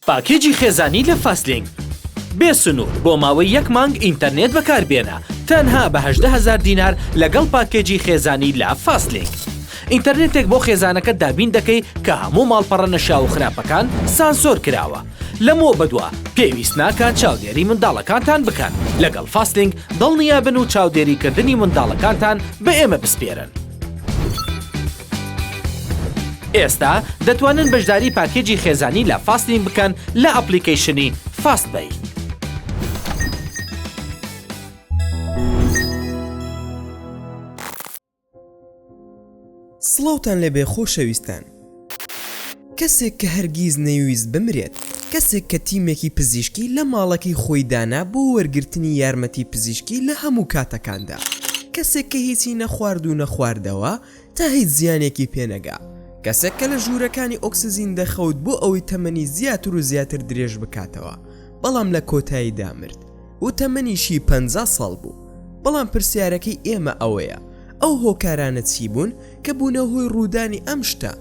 پاکێجی خێزانی لە فاستلینک بێ سنوور بۆ ماوەی یەک مانگ ئینتەرنێت بەکاربێنە تەنها بە هەژدە هەزار دینار لەگەڵ پاکێجی خێزانی لە فاستلینک ئینتەرنێتێک بۆ خێزانەکەت دابین دەکەی کە هەموو ماڵپەڕە نەشیاو و خراپەکان سانسۆر کراوە لەمەوە بەدوا پێویست ناکات چاودێری منداڵەکانتان بکەن لەگەڵ فاستلینک دڵنیابن و چاودێریکردنی منداڵەکانتان بە ئێمە بسپێرن. ئێستا دەتوانن بەشداری پاکێجی خێزانی لە فاستین بکەن لە ئەپلیکەیشنی فاست بەی. سڵاوتان لێبێ خۆشەویستان کەسێک کە هەرگیز نەیویست بمرێت کەسێک کە تیمێکی پزیشکی لە ماڵەکەی خۆی دانا بۆ وەرگرتنی یارمەتی پزیشکی لە هەموو کاتەکاندا کەسێک کە هیچی نەخوارد و نەخواردەوە تا هیچ زیانێکی پێ نەگا. کەسێک کە لە ژوورەکانی ئۆکسجین دەخەوت بۆ ئەوەی تەمەنی زیاتر و زیاتر درێژ بکاتەوە، بەڵام لە کۆتاییدا مرد و تەمەنیشی پەنجا ساڵ بوو. بەڵام پرسیارەکەی ئێمە ئەوەیە، ئەو هۆکارانە چی بوون کە بوونە هۆی ڕوودانی ئەم شتە؟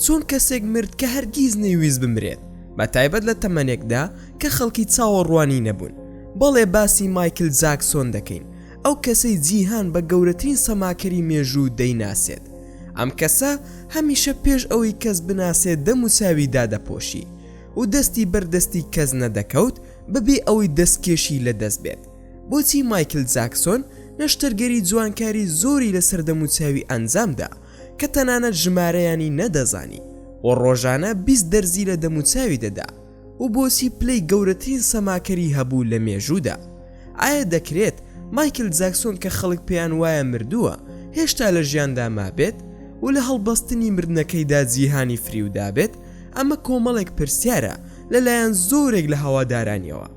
چۆن کەسێک مرد کە هەرگیز نەیویست بمرێت، بە تایبەت لە تەمەنێکدا کە خەڵکی چاوەڕوانی نەبوون؟ بەڵێ، باسی مایکل جاکسۆن دەکەین، ئەو کەسەی جیهان بە گەورەترین سەماکەری مێژوو دەیناسێت. ئەم کەسە هەمیشە پێش ئەوەی کەس بناسێت دەم و چاوی دادەپۆشی و دەستی بەر دەستی کەس نەدەکەوت بەبێ ئەوەی دەستکێشی لە دەست بێت. بۆچی مایکل جاکسۆن نەشتەرگەری جوانکاری زۆری لەسەر دەم و چاوی ئەنجام دا کە تەنانەت ژمارەیانی نەدەزانی و ڕۆژانە بیست دەرزی لە دەم و چاوی دەدا؟ و بۆچی پلەی گەورەترین سەماکەری هەبوو لە مێژوودا؟ ئایا دەکرێت مایکل جاکسۆن کە خەڵک پێیان وایە مردووە هێشتا لە ژیاندا مابێت و لە هەڵبەستنی مردنەکەیدا جیهانی فریودابێت؟ ئەمە کۆمەڵێک پرسیارە لەلایەن زۆرێک لە هەوادارانیەوە،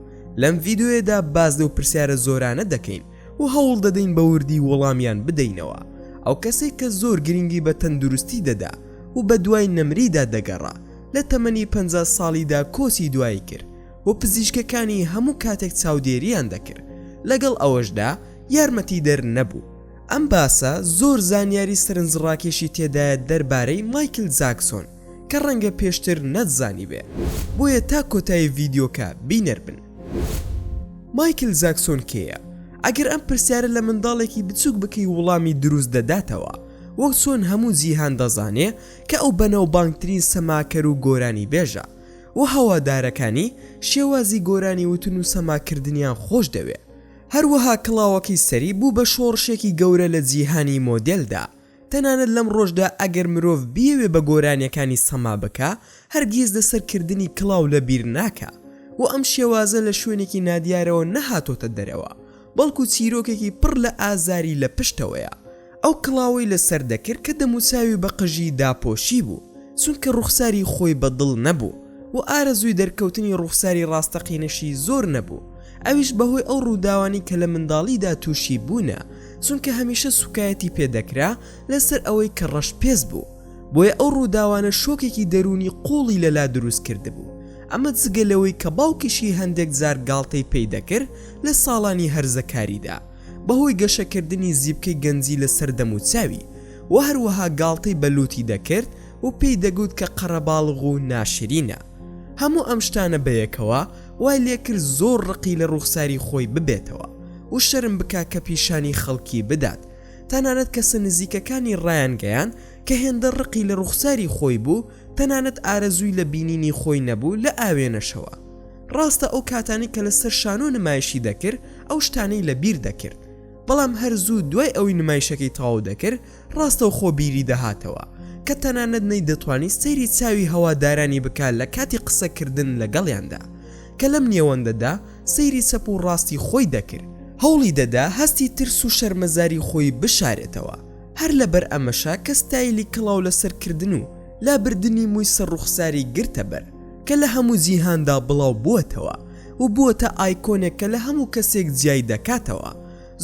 لەم ڤیدیۆیەدا باس لەو پرسیارە زۆرانە دەکەین و هەوڵدەدەین بە وردی وەڵامیان بدەینەوە، ئەو کەسێک کە زۆر گرنگی بە تەندروستی دەدا و بەدوای نەمریدا دەگەڕا، لە تەمەنی پەنجا ساڵیدا کۆچی دوایی کرد و پزیشکەکانی هەموو کاتێک چاودێرییان دەکرد، لەگەڵ ئەوەشدا یارمەتیدەر نەبوو. ئەم باسە زۆر زانیاری سەرنجڕاکێشی تێدایە دەربارەی مایکل جاکسۆن کە ڕەنگە پێشتر نەتزانیبێ، بۆیە تا کۆتایی ڤیدیۆکە بینەر بن. مایکل جاکسۆن کێیە؟ ئەگەر ئەم پرسیارە لە منداڵێکی بچووک بکەی وڵامی دروست دەداتەوە، وەک چۆن هەموو جیهان دەزانێ، کە ئەو بەناوبانگترین سەماکەر و گۆرانیبێژە و هەوادارەکانی شێوازی گۆرانی وتن و سەماکردنیان خۆش دەوێ. هەروەها کڵاوەکەی سەری بوو بە شۆڕشێکی گەورە لە جیهانی مۆدێلدا، تەنانەت لەمڕۆشدا ئەگەر مرۆڤ بیەوێ بە گۆرانیەکانی سەما بکا هەرگیز لەسەر کردنی کڵاو لەبیر ناکا و ئەم شێوازە لە شوێنێکی نادیارەوە نەهاتۆتە دەرەوە بەڵکو چیرۆکێکی پڕ لە ئازاری لە پشتەوەیە، ئەو کڵاوەی لەسەر دەکرد کە دەموچاوی بە قژی داپۆشیبوو، چونکە ڕوخساری خۆی بە دڵ نەبوو و ئارەزووی دەرکەوتنی ڕوخساری ڕاستەقینەشی زۆر نەبوو، ئەویش بەهۆی ئەو ڕووداوانەی کە لە منداڵیدا تووشی بوونە، چونکە هەمیشە سووکایەتی پێ دەکرا لەسەر ئەوەی کە ڕەش پێست بوو. بۆیە ئەو ڕووداوانە شۆکێکی دەروونی قووڵی لەلا دروست کردبوو، ئەمە جگە لەوەی کە باوکیشی هەندێک جار گاڵتەی پێی دەکرد لە ساڵانی هەرزەکاریدا بەهۆی گەشەکردنی زیپکەی گەنجی لەسەر دەموچاوی و هەروەها گاڵتەی بە لووتی دەکرد و پێی دەگوت کە قەرەباڵغ و ناشرینە. هەموو ئەم شتانە بەیەکەوە وای لێکرد زۆر ڕقی لە ڕووخساری خۆی ببێتەوە و شەرم بکات کە پیشانی خەڵکی بدات، تەنانەت کەسە نزیکەکانی ڕایانگەیاند کە هێندە ڕقی لە ڕوخساری خۆی بوو تەنانەت ئارەزووی لە بینینی خۆی نەبوو لە ئاوێنەشەوە. ڕاستە ئەو کاتانەی کە لە سەر شانۆ نمایشی دەکرد ئەو شتانەی لە بیر دەکرد بەڵام هەر زوو دوای ئەوەی نمایشەکەی تەواو دەکرد ڕاستەوخۆ بیری دەهاتەوە کە تەنانەت نەیدەتوانی سەیری چاوی هەوادارانی بکات لە کاتی قسە کردن لەگەڵیاندا کە لەم نێوەندەدا سەیری چەپ و ڕاستی خۆی دەکرد، هەوڵی دەدا هەستی ترس و شەرمەزاری خۆی بشارێتەوە، هەر لەبەر ئەمەشە کە ستایلی کڵاو لەسەر کردن و لابردنی مووی سەر ڕوخساری گرتە بەر، کە لە هەموو جیهاندا بڵاو بووەتەوە و بووەتە ئایکۆنێک کە لە هەموو کەسێک جیای دەکاتەوە،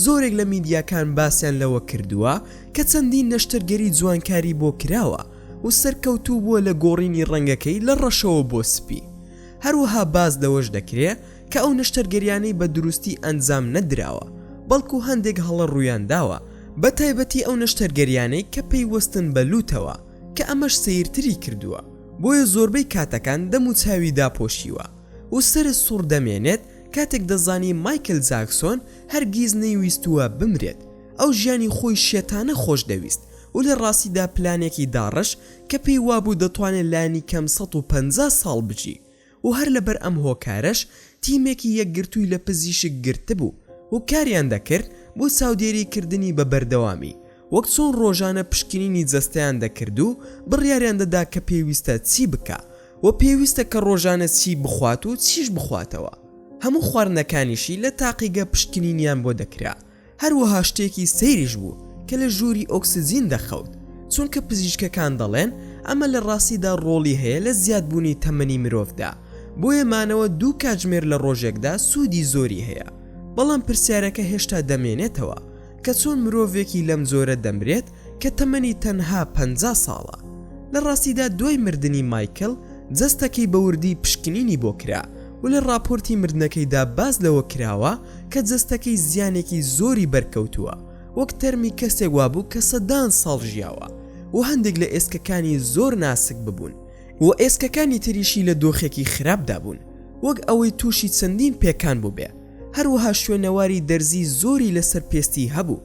زۆرێک لە میدیاکان باسیان لەوە کردووە کە چەندین نەشتەرگەری جوانکاری بۆ کراوە و سەرکەوتوو بووە لە گۆڕینی ڕەنگەکەی لە ڕەشەوە بۆ سپی. هەروەها باس لەوەش دەکرێ کە ئەو نەشتەرگەریانەی بە دروستی ئەنجام نەدراوە، بەڵکو هەندێک هەڵە ڕوویان داوە، بە تایبەتی ئەو نەشتەرگەریانەی کە پەیوەستن بە لووتەوە، کە ئەمەش سەیرتری کردووە، بۆیە زۆربەی کاتەکان دەم و چاوی داپۆشیوە و سەرە سوڕ دەمێنێت، کاتێک دەزانی مایکل جاکسۆن هەرگیز نەیویستووە بمرێت، ئەو ژیانی خۆی شێتانە خۆش دەویست و لە ڕاستیدا پلانێکی داڕشت، کە پێی وابوو دەتوانێت لانی کەم سەد و پەنجا ساڵ بژی و هەر لەبەر ئەم هۆکارەش تیمێکی یەکگرتووی لە پزیشک گرتبوو و کاریان دەکرد بۆ چاودێری کردنی بە بەردەوامی وەک چۆن ڕۆژانە پشکنینی جەستەیان دەکرد و بڕیاریان دەدا کە پێویستە چی بکا و پێویستە کە ڕۆژانە چی بخوات و چیش بخواتەوە هەموو خواردنەکانیشی لە تاقیگە پشکنینیان بۆ دەکرا هەروەها شتێکی سەیریش بوو کە لە ژووری ئۆکسجین دەخەوت، چونکە پزیشکەکان دەڵێن ئەمە لە ڕاستیدا ڕۆڵی هەیە لە زیادبوونی تەمەنی مرۆڤدا، بۆیە مانەوە دوو کاتژمێر لە ڕۆژێکدا سوودی زۆری هەیە، بەڵام پرسیارەکە هێشتا دەمێنێتەوە کە چۆن مرۆڤێکی لەم جۆرە دەمرێت کە تەمەنی تەنها پەنجا ساڵە، لە ڕاستیدا دوای مردنی مایکل جەستەکەی بە وردی پشکنینی بۆ کرا و لە ڕاپۆرتی مردنەکەیدا باس لەوە کراوە کە جەستەکەی زیانێکی زۆری بەرکەوتووە وەک تەرمی کەسێک وابوو کە سەدان ساڵ ژیاوە و هەندێک لە ئێسکەکانی زۆر ناسک ببوون و ئێسکەکانی تریشی لە دۆخێکی خراپدا بوون وەک ئەوەی تووشی چەندین پێکان بووبێ هەروەها شوێنەواری دەرزی زۆری لەسەر پێستی هەبوو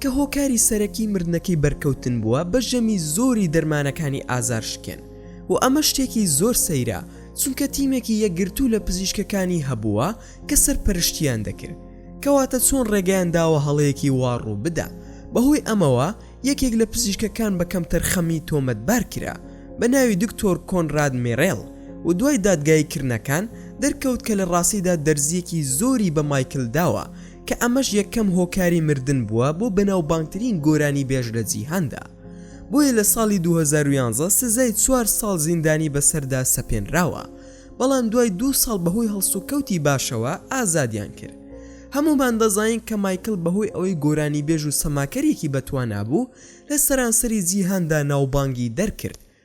کە هۆکاری سەرەکی مردنەکەی بەرکەوتن بووە بە ژەمی زۆری دەرمانەکانی ئازارشکێن و ئەمە شتێکی زۆر سەیرە چونکە تیمێکی یەکگرتوو لە پزیشکەکانی هەبووە کە سەرپەرشتیان دەکرد کەواتە چۆن ڕێگەیان داوە هەڵەیەکی وا ڕوو بدا بەهۆی ئەمەوە یەکێک لە پزیشکەکان بە کەمتەرخەمی تۆمەتبار کرا بە ناوی دکتۆر کۆنراد میرێل و دوای دادگایی کردنەکان دەرکەوت کە لە ڕاستیدا دەرزییەکی زۆری بە مایکل داوە کە ئەمەش یەکەم هۆکاری مردن بووە بۆ بەناوبانگترین گۆرانیبێژ لە جیهاندا، بۆیە لە ساڵی دوو هەزار و یازدە سزای چوار ساڵ زیندانی بەسەردا سەپێنراوە، بەڵام دوای دوو ساڵ بەهۆی هەڵسوکەوتی باشەوە ئازادیان کرد. هەموومان دەزانین کە مایکڵ بەهۆی ئەوەی گۆرانیبێژ و سەماکەرێکی بەتوانا بوو، لە سەرانسەری جیهاندا ناوبانگی دەرکرد،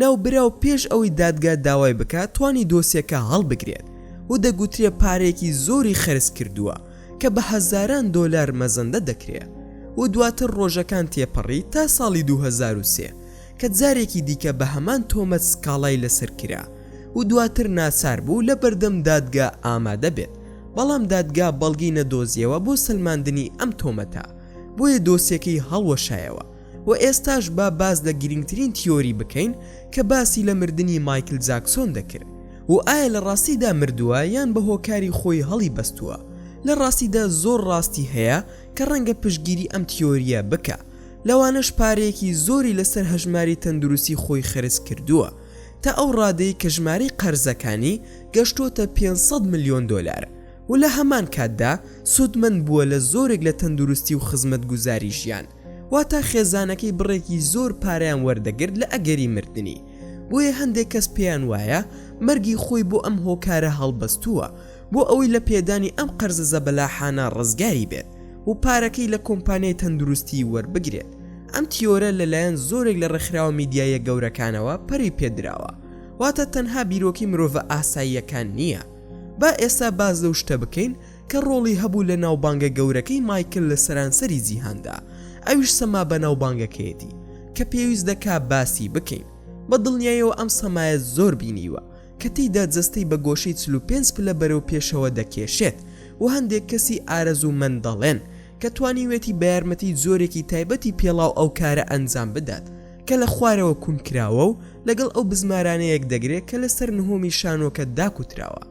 ناوبراو پێش ئەوەی دادگا داوای بکات توانی دۆسیەکە هەڵبگرێت و دەگوترێ پارەیەکی زۆری خەرج کردووە کە بە هەزاران دۆلار مەزەندە دەکرێ و دواتر ڕۆژەکان تێپەڕی تا ساڵی دوو هەزار و سێ کە جارێکی دیکە بە هەمان تۆمەت سکاڵای لەسەر کرا و دواتر ناچار بوو لە بەردەم دادگا ئامادە بێت بەڵام دادگا بەڵگەی نەدۆزیەوە بۆ سەلماندنی ئەم تۆمەتە بۆیە دۆسیەکەی هەڵوەشایەوە. وە ئێستاش با باس لە گرینگترین تیۆری بکەین کە باسی لە مردنی مایکل جاکسۆن دەکرد و ئایا لە ڕاستیدا مردووە یان بە هۆکاری خۆی هەڵی بەستووە لە ڕاستیدا زۆر ڕاستی هەیە کە ڕەنگە پشتگیری ئەم تیۆریە بکا لەوانەش پارەیەکی زۆری لەسەر هەژماری تەندروستی خۆی خەرج کردووە تا ئەو ڕادەی کە ژمارەی قەرزەکانی گەشتۆتە 500 ملیۆن دۆلار و لە هەمان کاتدا سودمەند بووە لە زۆرێک لە تەندروستی و خزمەت گوزاری ژیان. واتا خێزانەکەی بڕێکی زۆر پارەیان وەردەگرت لە ئەگەری مردنی بۆیە هەندێک کەس پێیان وایە مەرگی خۆی بۆ ئەم هۆکارە هەڵبەستووە بۆ ئەوەی لە پێدانی ئەم قەرزە زەبەلاحانە ڕزگاری بێت و پارەکەی لە کۆمپانیای تەندروستی وەربگرێت ئەم تیۆرە لەلایەن زۆرێک لە ڕێکخراوە میدیایە گەورەکانەوە پەری پێدراوە واتە تەنها بیرۆکی مرۆڤە ئاساییەکان نییە با ئێستا باز لەو شتە بکەین کە ڕۆڵی هەبوو لە ناوبانگە گەورەکەی مایکل لە سەرانسەری جیهاندا، ئەویش سەما بەناوبانگەکەیەتی کە پێویست دەکا باسی بکەین، بە دڵنیایەوە ئەم سەمایە زۆر بینیوە کە تێیدا جەستەی بە گۆشەی چل و پێنج پلە بەرەو پێشەوە دەکێشێت و هەندێک کەسی ئارەزوومەند دەڵێن کە توانیوێتی بە یارمەتی جۆرێکی تایبەتی پێڵاو ئەو کارە ئەنجام بدات کە لە خوارەوە کون کراوە و لەگەڵ ئەو بزمارانە یەکدەگرێ کە لەسەر نهۆمی شانۆکە داکوتراوە.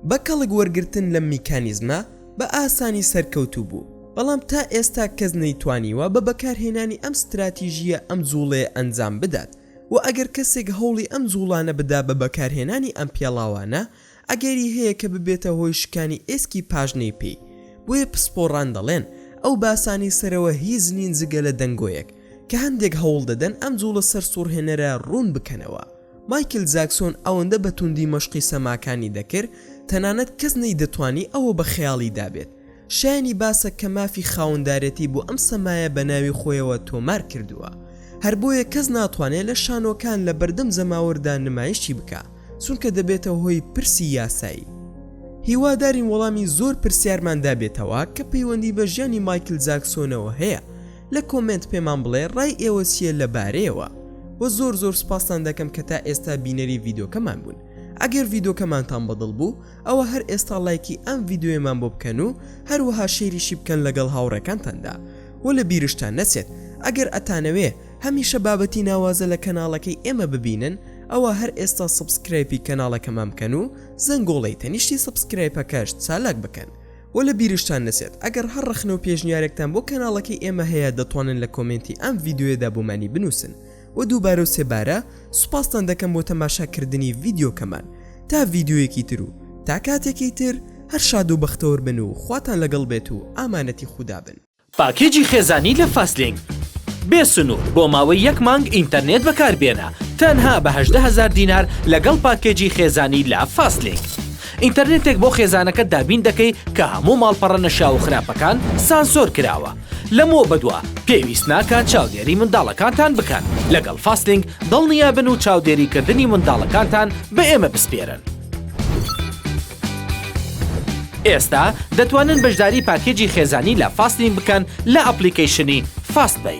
بە کەڵک وەرگرتن لەم میکانیزمە بە ئاسانی سەرکەوتوو بوو، بەڵام تا ئێستا کەس نەیتوانیوە بە بەکارهێنانی ئەم ستراتیژییە ئەم جووڵەیە ئەنجام بدات و ئەگەر کەسێک هەوڵی ئەم جووڵانە بدا بە بەکارهێنانی ئەم پێڵاوانە ئەگەری هەیە کە ببێتە هۆی شکانی ئێسکی پاژنەی پێی بۆیە پسپۆڕان دەڵێن ئەو باسانەی سەرەوە هیچ نین جگە لە دەنگۆیەک کە هەندێک هەوڵ دەدەن ئەم جووڵە سەرسووڕهێنەرە ڕوون بکەنەوە. مایکل جاکسۆن ئەوەندە بە توندی مەشقی سەماکانی دەکرد تەنانەت کەس نەیدەتوانی ئەوە بە خەیاڵیدا بێت. شایەنی باسە کە مافی خاوەندارێتی بۆ ئەم سەمایە بە ناوی خۆیەوە تۆمار کردووە. هەر بۆیە کەس ناتوانێت لە شانۆکان لە بەردەم جەماوەردا نمایشی بکات، چونکە دەبێتە هۆی پرسی یاسایی. هیوادارین وەڵامی زۆر پرسیارمان دابێتەوە کە پەیوەندی بە ژیانی مایکل جاکسۆنەوە هەیە، لە کۆمێنت پێمان بڵێ ڕای ئێوە چییە لە بارەیەوە وە زۆر زۆر سپاستان دەکەم کە تا ئێستا بینەری ڤیدۆکەمان بوون ئەگەر ڤیدۆکەمانتان بەدڵ بوو ئەوە هەر ئێستا لایکی ئەم ڤیددیوێمان بۆ بکەن و هەروەها شێریشی بکەن لەگەڵ هاوڕێکانتاندا و لە بیرشتان نەچێت ئەگەر ئەتانەوێ هەمیشە بابەتی ناوازە لە کەناڵەکەی ئێمە ببینن ئەوە هەر ئێستا سبسکرایپی کەناڵەکەمان بکەن و زەنگۆڵەی تەنیشتی سبسکرایپەکەش چالاک بکەن وە لە بیرشتان نەچێت ئەگەر هەر ڕەخنەو پێشنیارێکتان بۆ کەناڵەکەی ئێمە هەیە دەتوانن لە کۆمێنتی ئەم ڤیدیۆیەدا بۆمانی بنووسن وە دووبارەو سێ بارە سوپاستان دەکەم بۆ تەماشا کردنی ڤیدیۆکەمان تا ڤیدیۆیەکی تر و تا کاتێکی تر هەر شادو بەختەوەربن و خواتان لەگەڵ بێت و ئامانەتی خودا بن. پاکێجی خێزانی لە فاستلینک بێ سنوور بۆ ماوەی یەک مانگ ئینتەرنێت بەکاربێنە تەنها بە هەژدە هەزار دینار لەگەڵ پاکێجی خێزانی لە فاستلینک ئینتەرنێتێک بۆ خێزانەکەت دابین دەکەی کە هەموو ماڵپەڕە نەشیاو و خراپەکان سانسۆر کراوە لەمەوە بەدوا پێویست ناکات چاودێری منداڵەکانتان بکەن لەگەڵ فاستلینک دڵنیابن و چاودێری کردنی منداڵەکانتان بە ئێمە بسپێرن. ئێستا دەتوانن بەشداری پاکێجی خێزانی لە فاستین بکەن لە ئەپلیکەیشنی فاست بەی.